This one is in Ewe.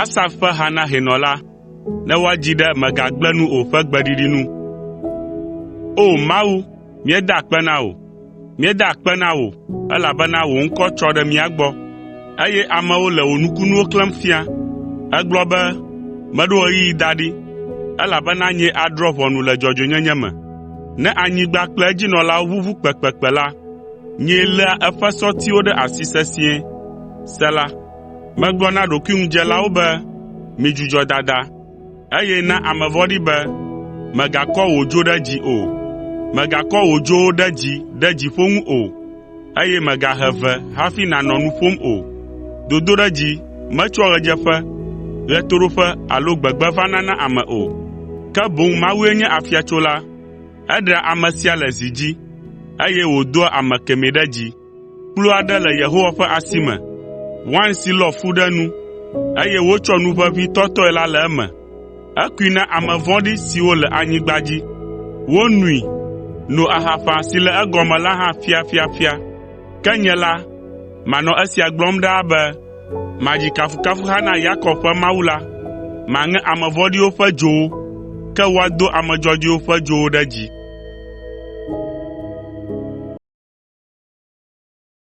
Asaf ƒe ha na hɛnɔ la. Ne woadzi ɖe “Mègagblẽ nu o” ƒe gbeɖiɖi nu. O! Mawu, míeda akpe na wò, míeda akpe na wò, elabena wò ŋkɔ tsɔ ɖe mía gbɔ, eye amewo le wò nukunuwo klẽm fia. Ègblɔ be, “Meɖo ɣeyiɣi da ɖi, elabena nyee adrɔ̃ ʋɔnu le dzɔdzɔenyenye me. Ne anyigba kple edzinɔlawo ʋuʋu kpekpekpe la, nyee léa eƒe sɔtiwo ɖe asi sesĩe. Sela Megblɔ na ɖokuiŋudzelawo be, “Midzudzɔ dada,” eye na ame vɔ̃ɖi be, “Mègakɔ wò dzo ɖe dzi o, mègakɔ wò dzowo ɖe dzi ɖe dziƒo ŋu o, eye mègahe ve hafi nànɔ nu ƒom o. Dodoɖedzi metsoa ɣedzeƒe, ɣetoɖoƒe alo gbegbe vana na ame o, ke boŋ Mawue nye afiatsola. Eɖea ame sia le zi dzi, eye wòdoa ame kemɛ ɖe dzi. Kplu aɖe le Yehowa ƒe asi me, wain si lɔ fu ɖe enu, eye wotsɔ nu ʋeʋĩ tɔtɔe la le eme. Ekui na ame vɔ̃ɖi siwo le anyigba dzi. Wonoe, no ahaƒã si le egɔme la hã ƒiaƒiaƒia. Ke nye la, manɔ esia gblɔm ɖaa be, “Madzi kafukafuha na Yakob ƒe Mawu la.” Maŋe ame vɔ̃ɖiwo ƒe dzowo, ke woado ame dzɔdzɔewo ƒe dzowo ɖe dzi.